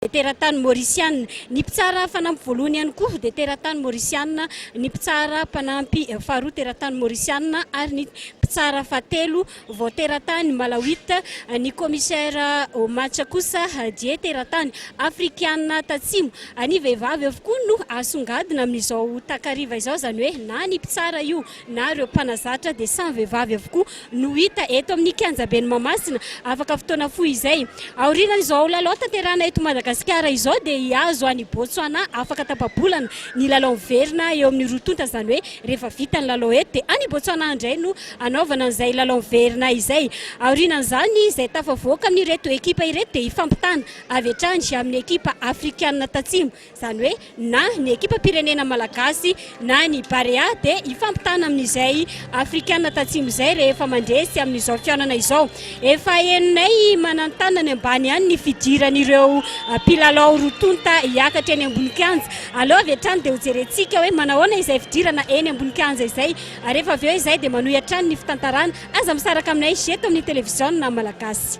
dia teratany Maorisiana. Ny mpitsara fanampy voalohany ihany koa dia teratany Maorisiana, ny mpitsara mpanampy faharoa teratany Maorisiana ary ny mpitsara fahatelo vao teratany Malawita. Ny Kaomisera Omacha kosa die teratany Afrikana Tatsimo. Ny vehivavy avokoa no asongadina amin'izao takariva izao, izany hoe na ny mpitsara io, na ireo mpanazatra dia samy vehivavy avokoa no hita eto amin'ny kianjaben'i Mahamasina afaka fotoana fohy izay. Aorianan'izao lalao tanterahina eto Madagasikara izao dia hihazo an'i Botswana afaka tapa-bolana ny lalao miverina eo amin'ny roa tonta izany hoe rehefa vita ny lalao eto dia any Botswana indray no hanaovana an'izay lalao miverina izay. Aorianan'izany izay tafavoaka amin'ireto ekipa ireto dia hifampitana avy hatrany amin'ny ekipa afrikanina tatsimo Izany hoe na ny ekipam-pirenena malagasy na ny Barea dia hifampitana amin'izay Afrikana tatsimo izay rehefa mandresy amin'izao fihaonana izao. Efa henonay mananontanony ambany ihany ny fidiran'ireo mpilalao roa tonta hiakatra eny ambony kianja. Aleo avy hatrany dia hojerentsika hoe manahoana izay fidirana eny ambony kianja izay ary rehefa avy eo izay dia manohy hatrany ny fitantarana. Aza misaraka aminay eto amin'ny televiziona malagasy.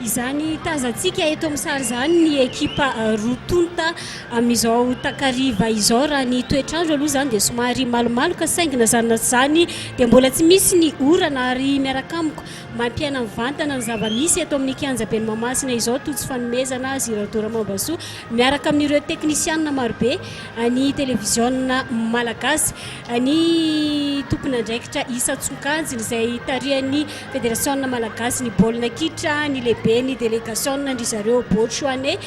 Izany tazantsika eto amin'ny sary izany ny ekipa roa tonta amin'izao takariva izao. Raha ny toetr'andro aloha izany dia somary malomaloka saingy na izany na tsy izany dia mbola tsy misy ny orana ary miaraka amiko mampiaina mivantana ny zava-misy eto amin'ny kianjaben'i Mahamasina izao tojo fanomezana azy ireo Dora Mambasoa miaraka amin'ireo teknisianina marobe an'ny televiziona malagasy, ny tompon'andraikitra isan-tsokajiny izay tarihan'ny. Federasiona Malagasy ny baolina kitra ny lehiben'ny delegasiona ndry zareo Bocho Ane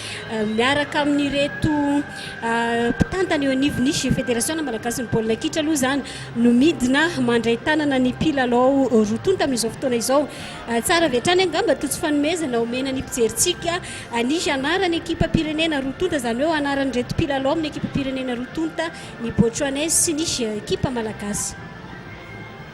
miaraka amin'ireto mpitantana eo anivon'ny Federasiona Malagasy ny baolina kitra aloha izany no midina mandray tanana ny mpilalao roa tonta amin'izao fotoana izao. Tsara avy hatrany angamba toa tsy fanomezana omena ny mpijerintsika ny anaran'ny ekipam-pirenena roa tonta izany hoe anaran'ireto mpilalao amin'ny ekipam-pirenena roa tonta ny Bocho Ane sy ny ekipa Malagasy.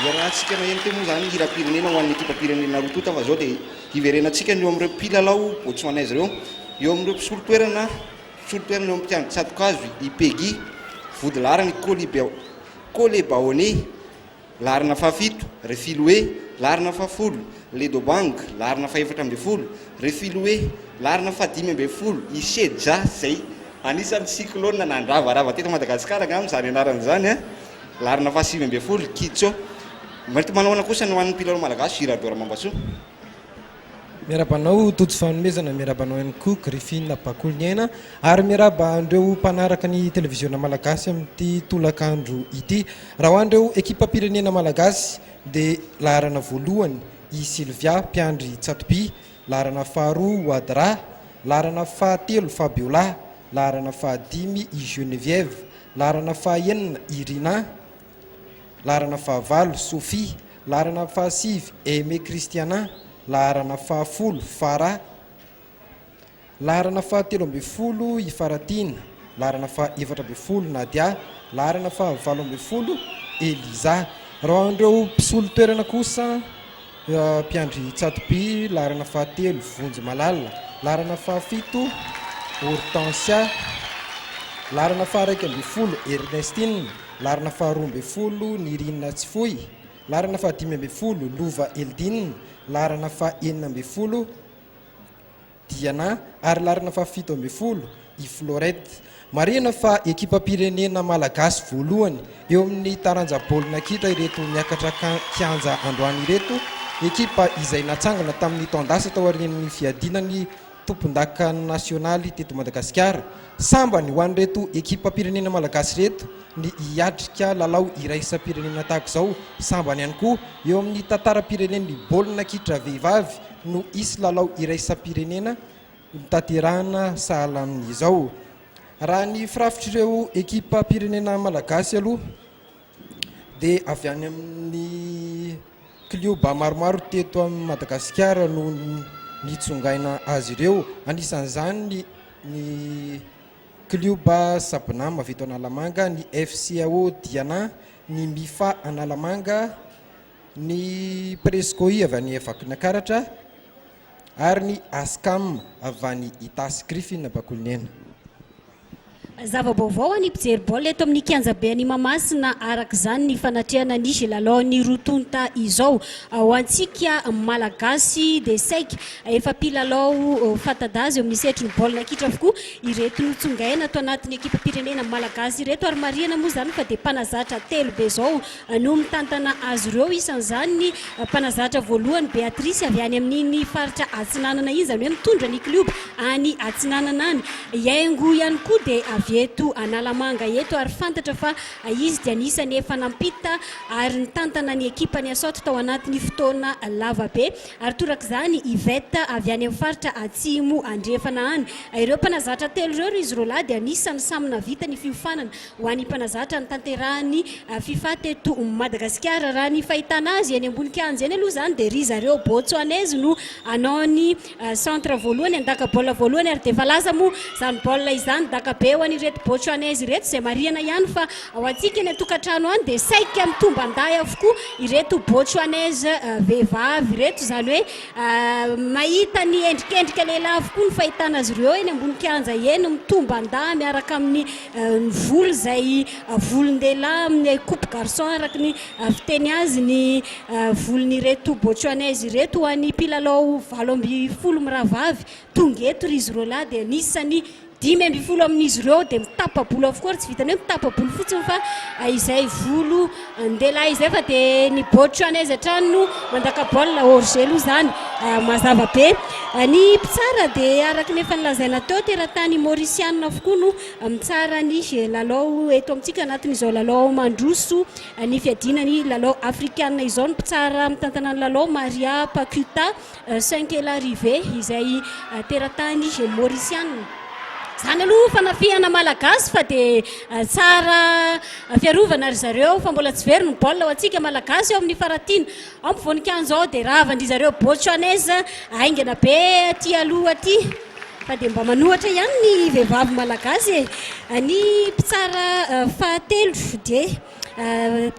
Iarahantsika maheno teo moa izany ny hiram-pirenena ho an'ny ekipam-pirenena roa tonta fa izao dia hiverenantsika ny eo amin'ireo mpilalao Botswanais ireo. Eo amin'ireo mpisolo toerana, mpisolo toerana eo amin'ny mpiandry tsato-kazo i Peggy, vodilaharan'ny Colebaone, laharana fahafito, Refiloe, laharana fahafolo, Ledobang, laharana fahefatra ambin'ny folo, Refiloe, laharana fahadimy ambin'ny folo, i Shedja izay Anisan'ny cyclone nandravarava teto Madagasikara angamba izany anarana izany an, laharana faha sivy ambin'ny folo, Kitjo. Mety manao ahoana kosa ny ho an'ny mpilalao malagasy Girardeau Ramambasoa? Miarahaba anao Tojo Fanomezana, miarahaba anao ihany koa Griffin Bakoliniaina ary miarahaba an'ireo mpanaraka ny televiziona malagasy amin'ity tolakandro ity. Raha ho an'ireo ekipam-pirenena malagasy dia laharana voalohany i Sylvia mpiandry tsatoby, Laharana faharoa, Wadra. Laharana fahatelo, Fabiola. Laharana fahadimy, i Geneviève. Laharana fahaenina, Irina. Laharana fahavalo, Sophie. Laharana fahasivy, Aimé Christiana. Laharana fahafolo, Farah. Laharana faha telo ambin'ny folo i Faratiana, laharana faha efatra ambin'ny folo Nadia, laharana faha valo ambin'ny folo Eliza. Raha an'ireo mpisolo toerana kosa, mpiandry tsatoby, laharana faha telo Vonjy Malala, laharana faha fito Hortensia, laharana faha iraika ambin'ny folo Ernestine, laharana faha roa ambin'ny folo Nirina Tsifoy, laharana faha dimy ambin'ny folo Lova Eldine, laharana faha enina ambin'ny folo Diana ary laharana fahafito ambin'ny folo i Florette. Marihina fa ekipam-pirenena malagasy voalohany eo amin'ny taranja baolina kitra ireto miakatra kianja androany ireto, ekipa izay natsangana tamin'ny taon-dasa taorian'ny fiadiana ny tompondaka nasionaly teto Madagasikara. Sambany ho an'ireto ekipam-pirenena malagasy ireto ny hiatrika lalao iraisam-pirenena tahaka izao, sambany ihany koa eo amin'ny tantaram-pirenen'ny baolina kitra vehivavy. no hisy lalao iraisam-pirenena hotanterahina sahala amin'izao. Raha ny firafitr'ireo ekipam-pirenena malagasy aloha dia avy any amin'ny klioba maromaro teto amin'i Madagasikara no nitsongaina azy ireo, anisan'izany ny klioba Sabonam avy eto Analamanga, ny FCAO Diana, ny Mifa Analamanga, ny Prescoi avy any Vakinankaratra ary ny Ascam avy any Itasy Griffin Ampakonihena. Zava-baovao ho an'ny mpijery baolina eto amin'ny kianjabe any Mahamasina araka izany ny fanatrehana ny Gilalaon'ny roa tonta izao. Ho antsika Malagasy dia saika efa mpilalao fanta-daza eo amin'ny sehatrin'ny baolina kitra avokoa ireto notsongaina ato anatin'ny ekipam-pirenena Malagasy ireto ary marihana moa izany fa dia mpanazatra telo be izao no mitantana azy ireo, isan'izany ny mpanazatra voalohany Beatrice avy any amin'iny faritra atsinanana iny, izany hoe mitondra ny klioba any atsinanana any. I Haingo ihany koa dia avy eto Analamanga eto ary fantatra fa izy dia anisan'ny efa nampita ary nitantana ny ekipan'i Asaoty tao anatin'ny fotoana lava be ary torak'izany Yvette avy any amin'ny faritra Atsimo Andrefana any. Ireo mpanazatra telo ireo ry zrolahy dia anisan'ny samy nahavita ny fiofanana ho an'ny mpanazatra ny tanterahan'ny fifa teto Madagasikara. Raha ny fahitana azy eny ambony kianja eny aloha izany dia ry zareo Botsoanaizy no hanao ny centre voalohany, handaka baolina voalohany ary dia efa lasa moa izany baolina izany dakabe ho an'ireto Botsoanaizy ireto izay marihana ihany fa ho antsika eny an-tokantrano any dia saika mitomban-dahy avokoa ireto Botsoanaizy vehivavy ireto izany hoe mahita ny endrikendrika lehilahy avokoa ny fahitana azy ireo eny ambony kianja eny mitomban-dahy miaraka amin'ny ny volo izay volon-dehilahy amin'ny coupe garçon araka ny fiteny azy ny volon'ireto Botswanais ireto ho an'ny mpilalao valo ambin'ny folo mirahavavy tonga eto ry izy roa lahy dia anisan'ny dimy ambin'ny folo amin'izy ireo dia mitapa-bolo avokoa ary tsy vitan'ny hoe mitapa-bolo fotsiny fa izay volo Andeha lahy izay fa dia ny Botswanais hatrany no mandaka baolina, hors jeu aloha izany mazava be. Ny mpitsara dia araka ny efa nolazaina teo, teratany Mauriciana avokoa no mitsara ny lalao eto amintsika anatin'izao lalao mandroso ny fiadiana ny lalao Afrikana izao. Ny mpitsara mitantana ny lalao Maria Pacuta Saint-Kela Rive, izay teratany Maurisiana. Izany aloha fanafihana Malagasy fa dia tsara fiarovana ry zareo fa mbola tsy very ny baolina ho antsika Malagasy eo amin'ny faratiana. Ao ny voninkanzo ao dia ravan-dry zareo Botswanais haingana be aty aloha aty fa dia mba manohatra ihany ny vehivavy Malagasy e. Ny mpitsara fahatelo dia.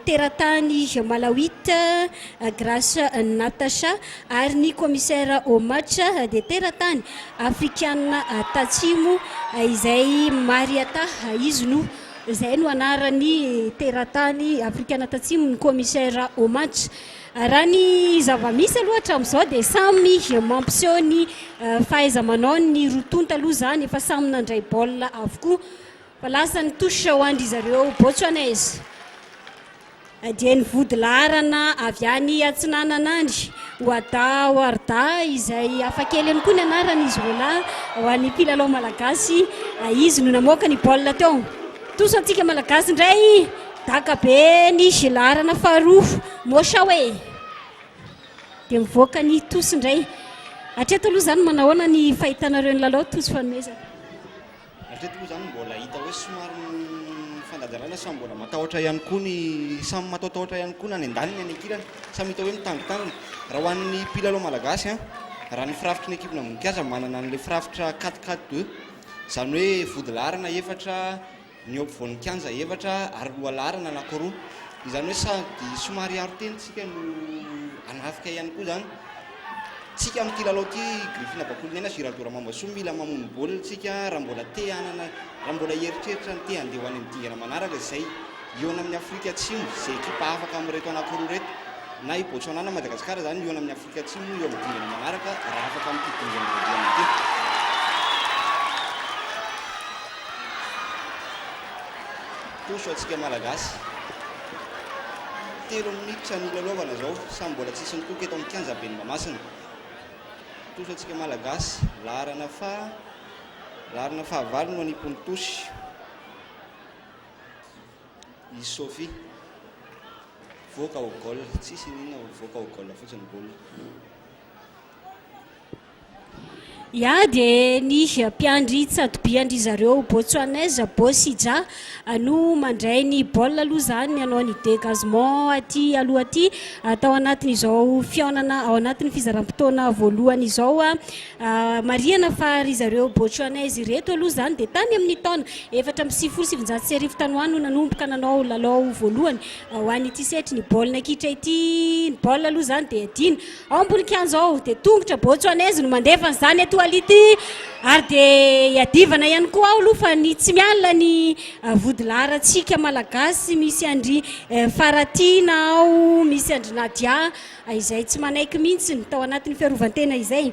teratany Malawita, Grace Natasha, ary ny Kaomisera Omacha dia teratany Afrikana Tatsimo izay Mariata izy no izay no anarany teratany Afrikana Tatsimo ny Kaomisera Omacha. Raha ny zava-misy aloha hatramin'izao dia samy mampiseho ny fahaiza-manaony ny roa tonta aloha izany efa samy nandray baolina avokoa Fa lasa ny touche ho an-dry zareo Botswanais dia ny vodilaharana avy any atsinanana any, Wada Warda, izay hafa kely ihany koa ny anarany izy roalahy ho an'ny mpilalao malagasy. Izy no namoaka ny baolina teo tosa antsika malagasy indray. Daka be ny jeu laharana faharoa, Moshawe dia mivoaka ny tosa indray. Hatreto aloha izany manahoana ny fahitanareo ny lalao tosa fanomezana? Hatreto moa izany mbola hita hoe somary mifandanjalala samy mbola matahotra ihany koa ny samy matahotahotra ihany koa na any an-daniny any an-kilany, samy hita hoe mitangotangona. Raha ho an'ny mpilalao malagasy, raha ny firafitry ny ekipna mikasa manana an'ilay firafitra quatre quatre deux, izany hoe vody laharana efatra, ny eo ampovoan'ny kianja efatra ary loha laharana anaky roa. Izany hoe sady somary hiaro tena isika no hanafika ihany koa izany. tsika amin'ity lalao ity Griffin Bakolonena sy Hirado Ramambasoa mila mamono baolina tsika raha mbola te hanana raha mbola hieritreritra ny te handeha ho any amin'ny dingana manaraka izay hihaona amin'ny Afrika Atsimo izay ekipa afaka amin'ireto anankiroa ireto na i Botswana na Madagasikara izany hihaona amin'ny Afrika Atsimo eo amin'ny dingana manaraka raha afaka amin'ity dingana voalohany ity. Toso antsika Malagasy. Telo minitra no hilalaovana izao, samy mbola tsisy nitoka eto amin'ny kianja ben'ny Mahamasina. Tosy antsika Malagasy, laharana faha, laharana fahavalo no anipony Tosy. I Sophie, voaka ho goal, tsisy inona, voaka ho goal fotsiny ny baolina. Ya dia ny mpiandry tsatoby an-dry zareo Botswanais Bosija no mandray ny baolina aloha izany ny hanao ny dégagement aty aloha aty tao anatin'izao fihaonana ao anatin'ny fizaram-potoana voalohany izao. Marihana fa ry zareo Botswanais ireto aloha izany dia tany amin'ny taona efatra amby sivifolo sy sivinjato sy arivo tany ho any no nanomboka nanao lalao voalohany ho an'ity setrin'ny baolina kitra ity. Ny baolina aloha izany dia adino. Ao am-polikianja ao dia tongotra Botswanese no mandefa ny zany eto Ality ary dia iadivana ihany koa ao aloha fa ny tsy miala ny vodilaharantsika malagasy misy an-dry Faratiana ao, misy an-dry Nadia izay tsy manaiky mihitsy ny tao anatin'ny fiarovan-tena izay.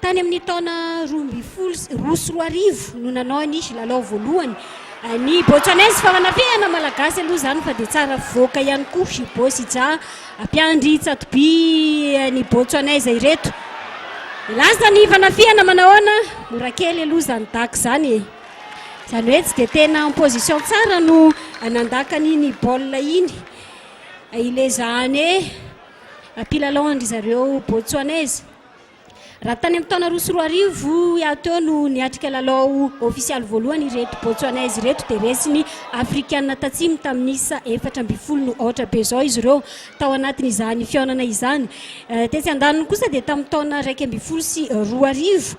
Tany amin'ny taona roa ambin'ny folo sy roa sy roa arivo no nanao ny lalao voalohany ny Botswanais fa manafihana Malagasy aloha izany fa dia tsara fivoaka ihany koa i Bosija mpiandry tsatoby ny Botswanais ireto. Lasa ny fanafihana manahoana? Mora kely aloha izany Daco izany e. Izany hoe tsy dia tena en position tsara no nandaka an'iny baolina iny ilay zahane mpilalao an-dry zareo Botswanais. Raha tany amin'ny taona roa sy roa arivo hiaho teo no niatrika lalao ofisialy voalohany ireto Botsuanais ireto dia resy ny Afrikana Tatsimo tamin'ny isa efatra ambin'ny folo no aotra be izao izy ireo tao anatin'izany fihaonana izany. Tetsy andaniny kosa dia tamin'ny taona iraika ambin'ny folo sy roa arivo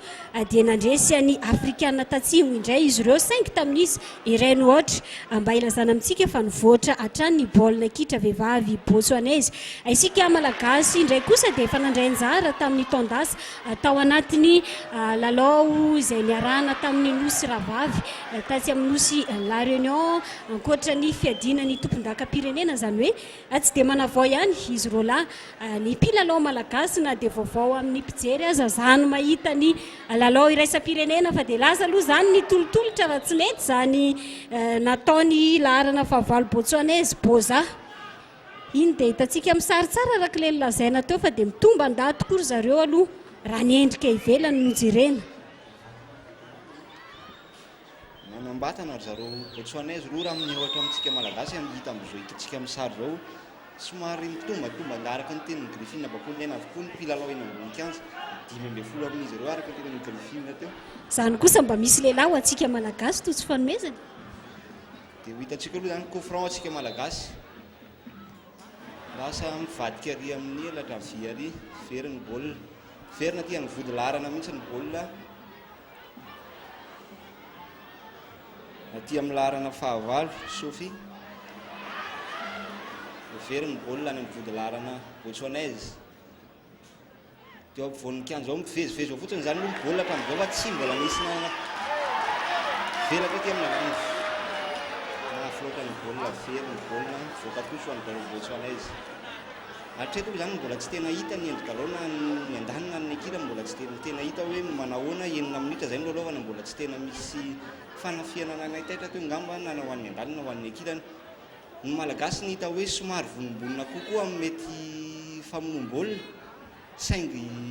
dia nandresy an'i Afrikana Tatsimo indray izy ireo saingy tamin'ny isa Ireny ohatra, a mba ilazana amintsika fa nivoatra hatrany ny baolina kitra vehivavy Botsoanezy. A Isika Malagasy indray kosa dia efa nandray anjara tamin'ny taon-dasa tao anatin'ny lalao izay niarahana tamin'ny Nosy Rahavavy tatsy amin'ny Nosy La Réunion, ankoatra ny fiadiana ny tompondakam-pirenena, izany hoe, Tsy dia manavao ihany izy roa lahy. Ny mpilalao malagasy na dia vaovao amin'ny mpijery aza izaho no mahita ny lalao iraisam-pirenena fa dia lasa aloha izany ny tolotolotra raha tsy nety izany nataon'ny laharana fahavalo Botswanais, Bôza. Iny dia hitantsika amin'ny sary tsara araka ilay nolazaina teo fa dia mitomban-dahy tokoa ry zareo aloha raha ny endrika ivelany no jerena. Manambatana ry zareo Botswanais roa raha minia ohatra amintsika Malagasy amin'ny hita amin'izao hitantsika amin'ny sary izao. Somary mitombantombana araka ny tenin'i Griffin Bakolinaina avokoa ny mpilalao eny ambony kianja, dimy ambin'ny folo amin'izy ireo araka ny tenin'i Griffin teo. Izany kosa mba misy lehilahy ho antsika Malagasy toa tsy fanomezana? Dia ho hitantsika aloha izany coup franc antsika Malagasy. Lasa mivadika ary amin'ny elatra havia ary very ny baolina. Miverina aty amin'ny vodilaharana mihitsy ny baolina. Aty amin'ny laharana fahavalo, Sophie. Very ny baolina any amin'ny vodilaharana Botswanaise. Dia eo ampovoan'ny kianja ao, mivezivezy ao fotsiny izany moa ny baolina hatramin'izao fa tsy mbola nisy na velatra aty amin'ny laharana mahafiloatra ny baolina, very ny baolina, voaka kosa ho an'ny Botswanaise. Hatreto moa izany mbola tsy tena hita ny endri-dalao na ny andaniny na ny ekirany mbola tsy dia tena hita hoe manahoana, enina minitra izay no lalaovana mbola tsy tena misy fanafihana nanaitaitra teo angamba na ho an'ny andaniny na ho an'ny ekirany. Ny Malagasy ny hita hoe somary vonimbonina kokoa amin'ny mety famonoam-baolina saingy.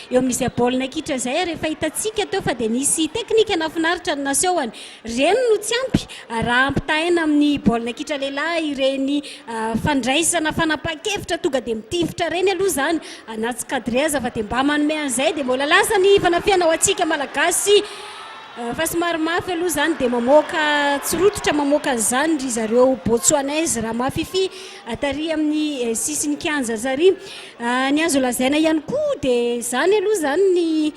Eo amin'izay baolina kitra izay ary efa hitantsika teo fa dia nisy teknika nahafinaritra ny nasehony. Ireny no tsy ampy raha ampitahaina amin'ny baolina kitra lehilahy ireny fandraisana fanapahan-kevitra tonga dia mitifitra ireny aloha izany anaty cadre aza fa dia mba manome an'izay dia mbola lasa ny fanafihana ho antsika Malagasy fa somary mafy aloha izany dia mamoaka tsy rototra mamoaka an'izany ry zareo Botsoanais raha mahafify tary amin'ny sisin'ny kianja zary. Ny azo lazaina ihany koa dia izany aloha izany ny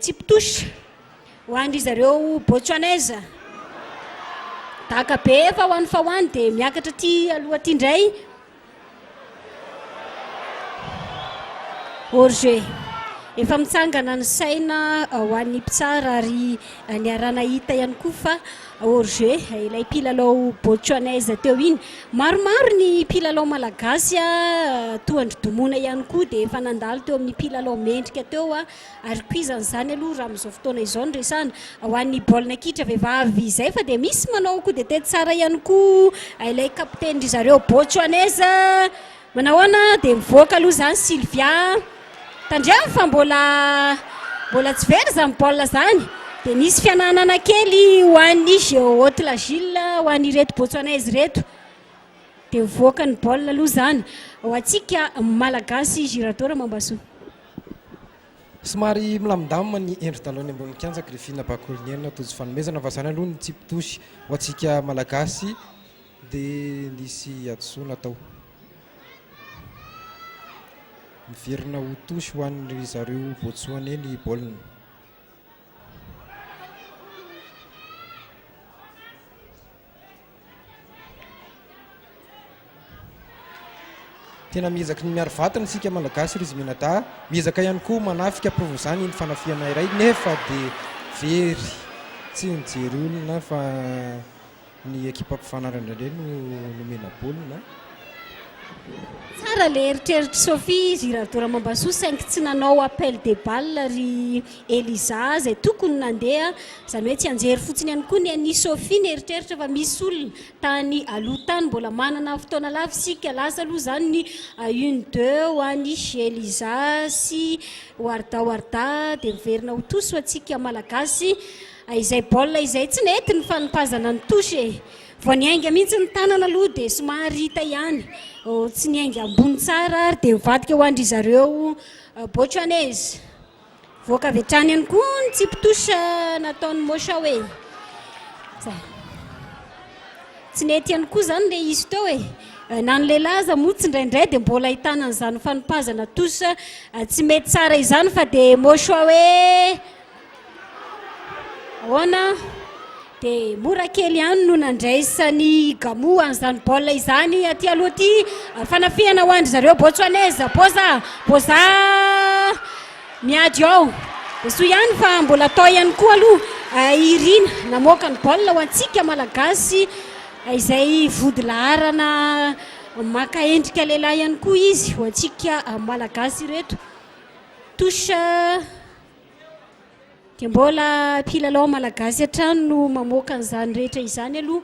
chip touche ho an-dry zareo Botswanese. Daka be fa ho any fa ho any dia miakatra aty aloha aty indray. Hors jeu. Efa mitsangana ny saina ho an'ny mpitsara ary niaraha-nahita ihany koa fa Jorge, ilay mpilalao Botswanais teo iny. Maromaro ny mpilalao malagasy toa an-dry Domona ihany koa dia efa nandalo teo amin'ny mpilalao mendrika teo ary koa izany izany aloha raha amin'izao fotoana izao no resahana ho an'ny baolina kitra vehivavy izay fa dia misy manao coup de tête tsara ihany koa ilay capitaine-ndry zareo Botswanais. Manahoana dia mivoaka aloha izany Sylvia a! Tandremo fa mbola mbola tsy very izany baolina izany dia misy fiananana kely ho an'ny Géohaute La Gilles ho an'ireto Botswanais ireto dia mivoaka ny baolina aloha izany ho antsika Malagasy Girardot Ramambasoa. Somary milamindamina ny endri-dalao eny ambonin'ny kianja Griffin Bakoliniaina Tojo Fanomezana fa izany aloha ny tsipy-dosy ho antsika Malagasy. Dia nisy hadisoa natao. Miverina ho touche ho an' ry zareo Botsoaney ny baolina. Tena miezaky ny miaro vatana isika Malagasy Rizy Menadahy. Miezaka ihany koa manafika ampirova izany ny fanafihana iray nefa dia very tsy nijery olona fa Ny ekipako fanary indraindray no nomena baolina. Tsara le eritreritry Sophie izy Rado Ramambasoa saingy tsy nanao appel de balle ry Eliza zay tokony nandeha zany hoe tsianjery fotsiny ihany koa ny an'i Sophie ny eritreritra fa misy olona tany aloha tany mbola manana fotoana lava isika lasa aloha zany ny une deux ho an'i Eliza sy Warda Warda dia miverina ho tous ho antsika malagasy Hay izay baolina izay tsy nety ny fanipazana ny touche e! Vao niainga mihitsy ny tanana aloha dia somary hita ihany oh, tsy niainga ambony tsara ary dia nivadika ho an-dry zareo Botswanais. Voaka avy hatrany ihany koa ny tsipy touche nataon'i Moshawe. Zay. Tsy nety ihany koa izany ilay izy teo e! Na ny lehilahy aza moa tsindraindray dia mbola ahitana an'izany fanipazana touche tsy mety tsara izany fa dia Moshawe! Ahoana? Dia mora kely ihany no nandraisan'i Gamo an'izany baolina izany aty aloha aty. Fanafihana ho an-dry zareo Botswanais. Boza, Boza miady ao. Dia soa ihany fa mbola tao ihany koa aloha i Irina namoaka ny baolina ho antsika Malagasy izay vody laharana maka endrika lehilahy ihany koa izy ho antsika Malagasy ireto. Touche. Dia mbola mpilalao malagasy hatrany no mamoaka an'izany rehetra izany aloha.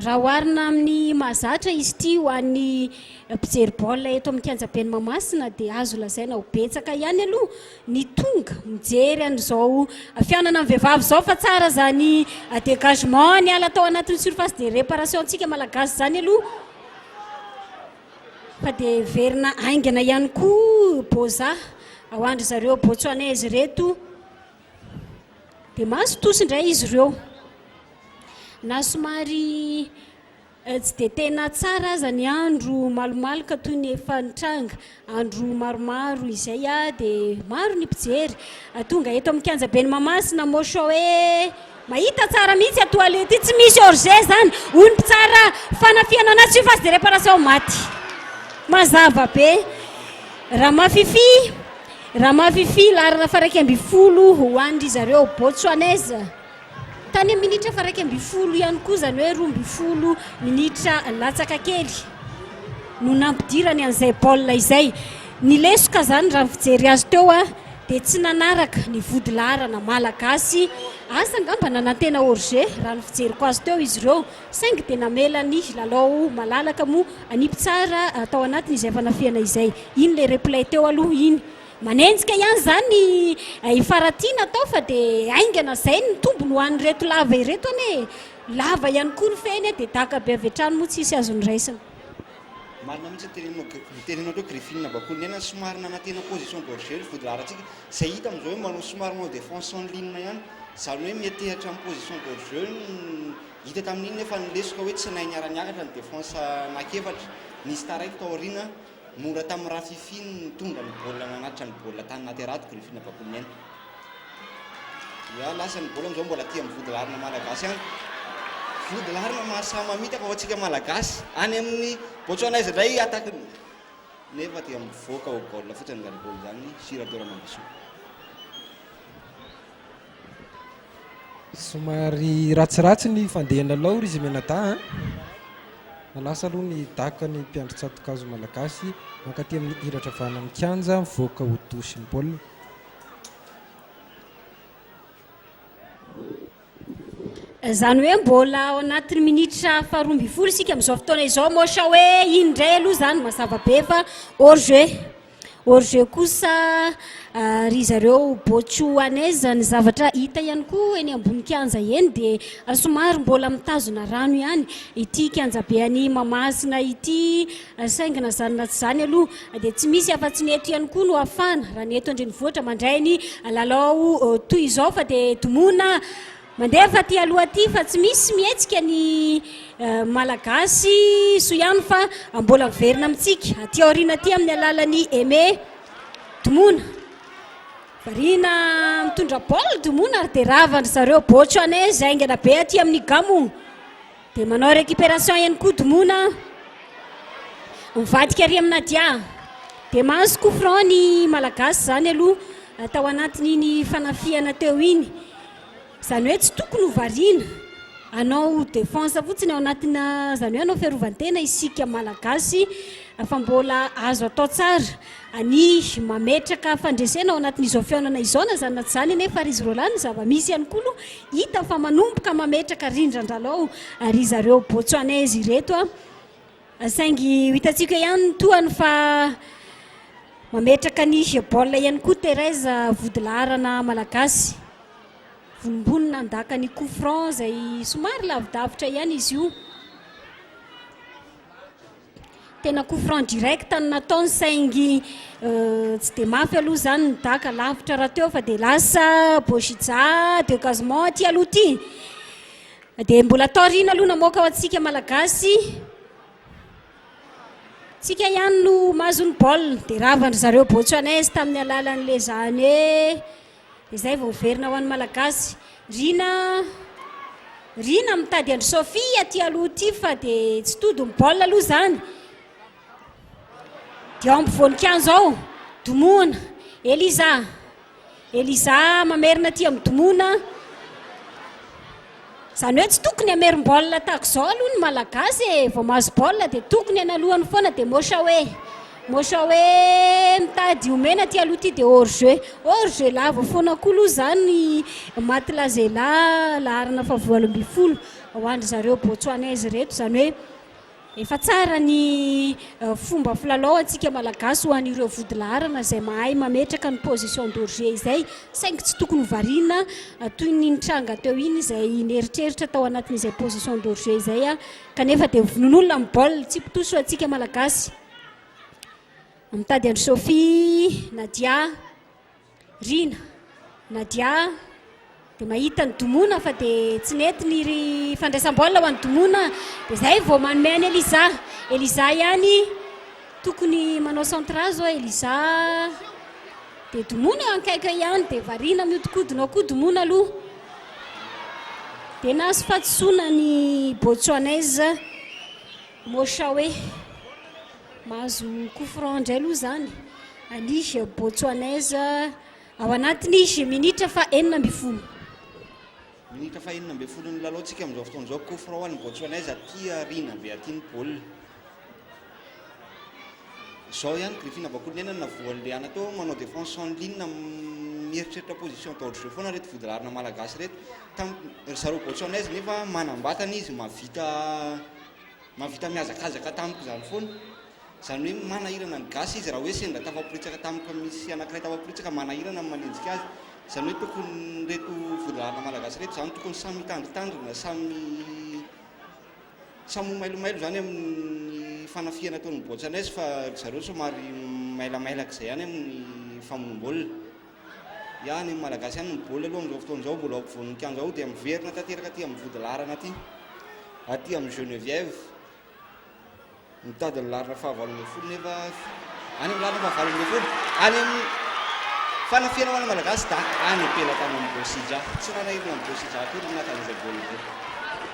Raha oharina amin'ny mahazatra izy ity ho an'ny mpijery baolina eto amin'ny kianjaben'i Mahamasina dia azo lazaina ho betsaka ihany aloha ny tonga mijery an'izao fihaonana amin'ny vehivavy izao fa tsara izany dégagement niala tao anatin'ny surface de réparation-tsika malagasy izany aloha. Fa dia heverina haingana ihany koa Boza ao an-dry zareo Botsoanaizy ireto. Dia mahazo tosy indray izy ireo. Na somary eh, tsy dia tena tsara aza ny andro malomaloka toy ny efa nitranga andro maromaro izay ah, dia maro ny mpijery. Ah, tonga eto amin'ny kianja ben'i Mahamasina Moshoe. Mahita tsara mihitsy a toile ity tsy misy hors jeu zany hoy ny mpitsara fanafihana anazy tsy io fa sy de reparation maty mazava be Ramafifi Ramafifi laharana faha iraika ambin'ny folo ho an dry zareo Botswanese tany amin'ny minitra faha iraika ambin'ny folo ihany koa izany hoe roa ambin'ny folo minitra latsaka kely no nampidirany an'izay baolina izay ny lesoka zany raha ny fijery azy teo a dia tsy nanaraka ny vodilaharana malagasy. Asa angamba nanantena hors-jeu raha ny fijeriko azy teo izy ireo, saingy dia namela ny lalao malalaka moa ny mpitsara tao anatin' izay fanafihana izay. Iny ilay replay teo aloha iny. Manenjika ihany izany i Faratiana atao fa dia haingana izay ny tombony ho an'ireto lava ireto anie e! Lava ihany koa ny fehiny dia daka be avy hatrany moa tsisy azo noraisina. Marina mihitsy ny teneninao ny teneninao teo Griffin Bakoly Nena somary nanantena position d'orgueil ny Vodilaharantsika izay hita amin' izao hoe manao somary manao défense en ligne ihany izany hoe miantehatra amin' ny position d'orgueil hita tamin' iny nefa ny lesoka hoe tsy nahay niara-niakatra ny défense anankiefatra nisy taraiky tao aoriana mora tamin' ny Rafify ny nitondra ny baolina nanatitra ny baolina tany naterato Griffin Bakoly Nena. Oa lasa ny baolina amizao mbola aty am vodilarana malagasy any. Vodilarana mahasahy mamitaka ho antsika malagasy. Any amin'ny Botswana izy indray attaque nefa dia mivoaka ho goal fotsiny Garibo izany sy Radoa Ramambisoa. Somary ratsiratsy ny fandehan'ny lalao ry Zimenada a. Manasa aloha ny daka ny mpiandry tsato-kazo malagasy mankaty amin'ny iratra avy any amin'ny kianja mivoaka ho douche ny baolina. Izany hoe mbola ao anatin'ny minitra faharoa ambin'ny folo isika amin'izao fotoana izao moa sa hoe iny indray aloha izany mazava be fa hors jeu. Hors jeu kosa ah, ry zareo Botswanais ny zavatra hita ihany koa eny ambony kianja eny dia somary mbola mitazona rano ihany ity kianjabe an'i Mahamasina ity. Saingy na izany na tsy izany aloha dia tsy misy afa-tsy ny eto ihany koa no hafana raha ny eto an-drenivohitra mandray ny lalao toy izao fa dia domona mandefa aty aloha aty fa tsy misy mihetsika ny Malagasy soa ihany fa mbola miverina amintsika aty aoriana aty amin'ny alalan'i Aimé domona variana mitondra baolina domona ary dia ravan-dry zareo Bocho anez haingana be aty amin'ny gamogna Dia manao récupération eny koa Domona. Mivadika ary amin'i Nadia. Dia mahazo coup franc ny Malagasy izany aloha tao anatin'iny fanafihana teo iny. Izany hoe tsy tokony ho variana. Hanao défense fotsiny ao anatina, izany hoe hanao fiarovan-tena isika Malagasy fa mbola azo atao tsara. Anihy, Mametraka fandresena ao anatin'izao fihaonana izao na izany na tsy izany anie fa ry izy roalahy ny zava-misy ihany koa aloha hita fa manomboka mametraka rindran-dralao ry zareo Botswanais ireto a! saingy ho hitantsika ihany ny tohany fa mametraka ny baolina ihany koa Thérèse vodilaharana malagasy vonombony nandaka ny coup franc izay somary lavidavitra ihany izy io. Tena coup franc direct no nataony saingy tsy dia mafy aloha izany ny daka, lavitra rahateo fa dia lasa Boshija de Gazement aty aloha aty. Dia mbola taoriana aloha namoaka ho antsika Malagasy. Tsika ihany no mahazo ny baolina dia ravan'ny zareo Botsuanais tamin'ny alalan'ilay izany hoe Izay vao miverina ho an'ny Malagasy. Rina Rina mitady an-dry Sophie aty aloha aty fa dia tsy tody ny baolina aloha izany. Dia ao ampovoan-kianja ao, Domoana, Eliza. Eliza mamerina aty amin'ny Domoana. Zany hoe tsy tokony hamerim-baolina tahaka izao aloha ny Malagasy e! Vao mahazo baolina dia tokony hanalohany foana dia mocha hoe mocha hoe mitady omena ity aloha ity dia hors jeu. Hors jeu lava foana koa aloha izany Maty Lazela laharana faha valo ambin'ny folo ho an-dry zareo Botswanais ireto izany hoe Efa tsara ny fomba filalao antsika Malagasy ho an'ireo vodilaharana izay mahay mametraka ny position de jeu izay saingy tsy tokony ho variana toy ny nitranga teo iny izay nieritreritra tao anatin'izay position de jeu izay kanefa dia vonoin'olona ny baolina. Tsipitoso antsika Malagasy. Mitady an-dry Sophie, Nadia. Rina, Nadia a! dia mahita an'i Domona fa dia tsy nety ny ry fandraisam-baolina ho an'i Domona dia izay vao manome an'i Eliza. Eliza ihany tokony manao centre azy oa Eliza dia Domona eo ankaiky eo ihany dia variana mihodinkodina ao koa Domona aloha dia nahazo fahadisoana ny Botswanais. Mosha hoe mahazo coup franc indray aloha izany ny Botswanaise ao anatin'ny minitra fahenina ambin'ny folo. Minitra fahenina ambin'ny folo ny lalaontsika amin'izao fotoana izao. Coup franc ho an'ny Botswanaise aty aoriana be aty ny baolina. Izao ihany Griffin Abakolonena no navoan'ny Riana teo manao défense en ligne mieritreritra position d'ordre jeu foana ireto vodilarina malagasy ireto. Tam- Ry zareo Botswanaise nefa manam-batana izy mahavita Mahavita mihazakazaka tamiko izany foana. Izany hoe manahirana ny gasy izy raha hoe sendra tafaporitsaka tamiko misy anankiray tafaporitsaka manahirana ny manenjika azy. Izany hoe tokony ireto vondron'arina malagasy ireto izany tokony samy hitandritandrina, samy samy ho mailomailo izany amin'ny fanafihana ataon'ny boatsanaizy fa ry zareo somary mailamailaka izay ihany amin'ny famonoam-baolina. Ya ny Malagasy ihany ny baolina aloha amin'izao fotoana izao mbola ao ampovoan'ny kianja ao dia miverina tanteraka aty amin'ny vodilaharana aty. Aty amin'ny Geneviève mitady ny laharana fahavalo ambin'ny folo nefa any amin'ny laharana fahavalo ambin'ny folo any amin'ny fanafihana ho an'ny Malagasy da any am-pelatany amin'ny Bosija. Tsy nanahirana amin'ny Bosija akory ny naka izay baolina izay.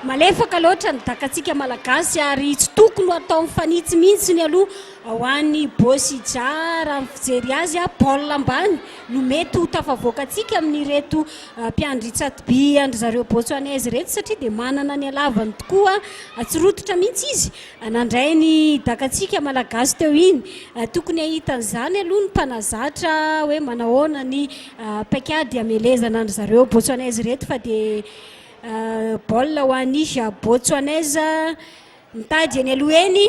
Malefaka loatra ny dakatsika Malagasy ary tsy tokony ho atao mifanitsy mihitsy ny aloha. Ho an'i Bozija, raha ny fijery azy, Paul ambany no mety ho tafavoaka antsika amin'ireto mpiandry tsatoby an-dry zareo Botswanese ireto satria dia manana ny halavany tokoa tsy rototra mihitsy izy nandray ny dakantsika Malagasy teo iny. Tokony hahita an'izany aloha ny mpanazatra hoe manahoana ny paikady hamelezana an-dry zareo Botswanese ireto fa dia baolina ho an'i Botswanese mitady eny aloha eny.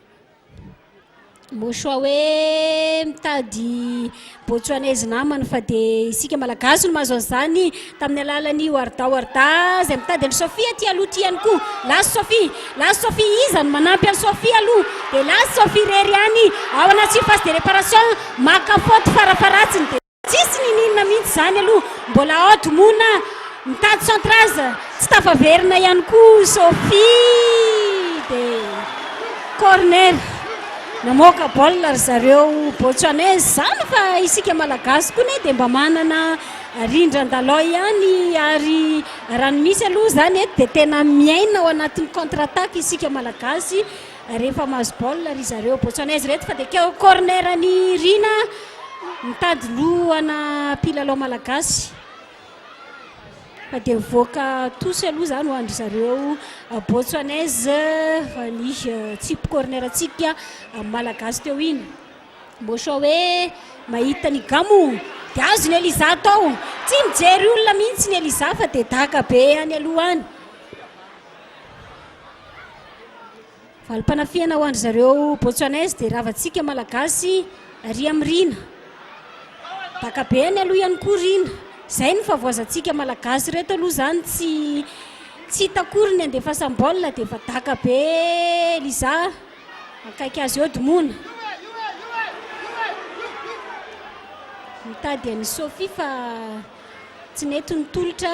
Mosoa hoe mitady Botsuanese namana fa dia isika Malagasy no mahazo an'izany tamin'ny alalan'i Warda Warda izay mitady an'i Sophie aty aloha aty ihany koa. Last Sophie, last Sophie iza no manampy an'i Sophie aloha dia last Sophie irery ihany ao anaty surface de réparation maka faute farafaharatsiny dia Tsisy nininona mihitsy izany aloha, mbola ao Domona mitady centrage, tsy tafaverina ihany koa Sophie dia corner. Namoaka baolina ry zareo Botswanais, izany fa isika Malagasy koa anie dia mba manana rindran-dalao ihany ary raha ny misy aloha izany eto dia tena miaina ao anatin'ny contre attaque isika Malagasy Rehefa mahazo baolina ry zareo. Botswanais ireto fa dia keo corner an'i Rina mitady lohana mpilalao malagasy fa dia voaka tosy aloha izany ho an-dry zareo Botswanais fa ny tsipy corner-ntsika malagasy teo iny. Moshowe mahita ny Gamo dia azon'i Eliza atao. Tsy mijery olona mihitsy ny Eliza fa dia daka be any aloha any. Valim-panafihana ho an-dry zareo Botswanais dia ravantsika Malagasy Ria amin'ny Rina. Dakabeany aloha ihany koa Rina. Izay no fahavoazantsika Malagasy ireto aloha izany tsy tsy hita akory ny andefasam-baolina dia efa daka be Liza akaiky azy eo Domona. Mitady an'i Sophie fa tsy nety ny tolotra.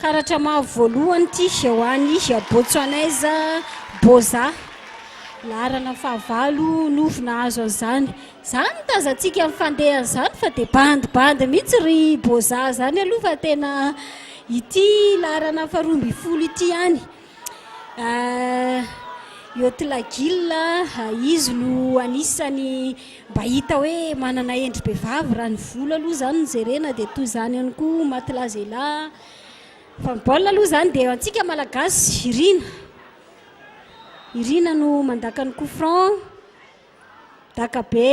Karatra mavo voalohany ity ho an'i Botsoanaiza Boza. Laharana fahavalo no nahazo an'izany. Izany no tazantsika amin'ny fandehany izany fa dia bandibandy mihitsy ry Boza izany aloha fa tena ity laharana faharoa ambin'ny folo ity ihany. Yotlagil, izy no anisany mba hita hoe manana endry be vavy raha ny volo aloha izany no jerena dia toy izany ihany koa matlazela, fa ny baolina aloha izany dia antsika malagasy irina, irina no mandaka ny coup franc, dakabe